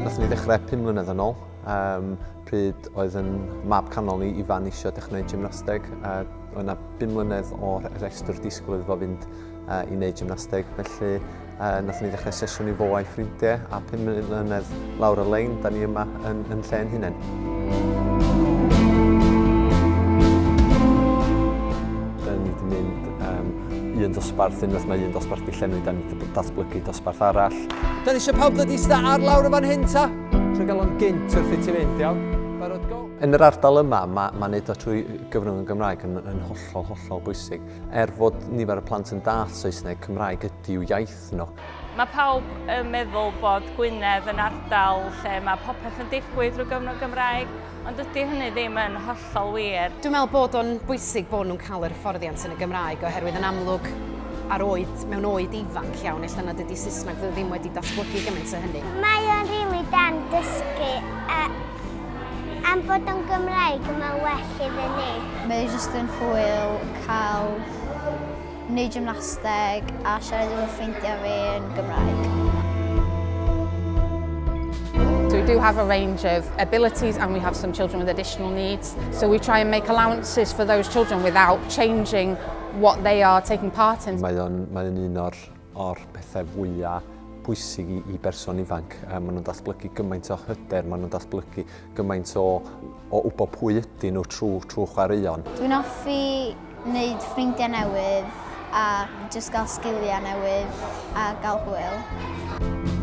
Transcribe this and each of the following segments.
Nathon ni ddechrau pum mlynedd yn ôl, um, pryd oedd yn mab canol ni Ifan eisiau dechrau gwneud gymnasteg. Uh, oedd yna bum mlynedd o'r rhestr disgwyl iddo fo fynd a i wneud gymnasteg, felly uh, nath ni ddechrau sesiwn i fo a'i ffrindiau, a pum mlynedd lawr y lein, da ni yma yn, yn lle yn hunain. Da ni wedi mynd um, un dosbarth, unwaith mae un dosbarth di llenwi, da ni wedi datblygu dosbarth arall. Da ni eisiau pawb ddod i sta ar lawr y fan hyn ta? Trwy gael o'n gynt wrth i ti fynd, iawn? Yn yr ardal yma, mae, mae wneud o trwy gyfrwng y Gymraeg yn, yn hollol, hollol bwysig. Er fod nifer y plant yn dall Saesneg, Cymraeg ydyw iaith nhw. Mae pawb yn meddwl bod Gwynedd yn ardal lle mae popeth yn digwydd drwy gyfrwng Gymraeg, ond dydy hynny ddim yn hollol wir. Dwi'n meddwl bod o'n bwysig bod nhw'n cael yr hyfforddiant yn y Gymraeg oherwydd yn amlwg ar oed, mewn oed ifanc iawn, ella nad ydy Saesneg ddim wedi datblygu gymaint o hynny. Mae o'n rili da yn dysgu a Am bod o'n Gymraeg, mae'n well iddyn ni. Mae e jyst yn hwyl cael neud gymnasteg a siarad efo ffrindiau fi yn Gymraeg. So we do have a range of abilities and we have some children with additional needs. So we try and make allowances for those children without changing what they are taking part in. Mae o'n mae un o'r o'r pethau fwya' pwysig i i berson ifanc. Yy ma' nhw'n datblygu gymaint o hyder, ma' nhw'n datblygu gymaint o o wybod pwy ydyn nhw trwy trwy chwaraeon. Dwi'n hoffi wneud ffrindiau newydd a jyst gael sgiliau newydd a gael hwyl.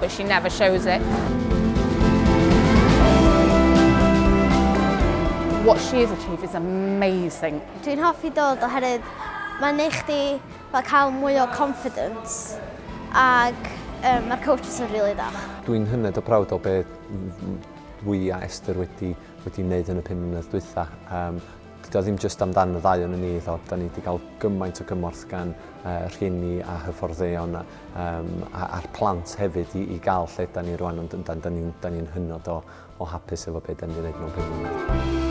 But she never shows it. What she has achieved is amazing. Dwi'n hoffi dod oherwydd mae'n neud chdi fel cael mwy o confidence ac um, mae'r coaches yn rili really dda. Dwi'n hynod o prawd o beth dwi a Esther wedi, wedi wneud yn y pum mlynedd dwytha. Um, Dydy o ddim jyst amdan y ddau ohonon ni iddo, da ni wedi cael gymaint o gymorth gan uh, rhieni a hyfforddeion a, um, a, a'r plant hefyd i, i gael lle da ni rwan, ond da, da ni'n ni, ni hynod o, o hapus efo beth da ni'n gwneud mewn pengliniau.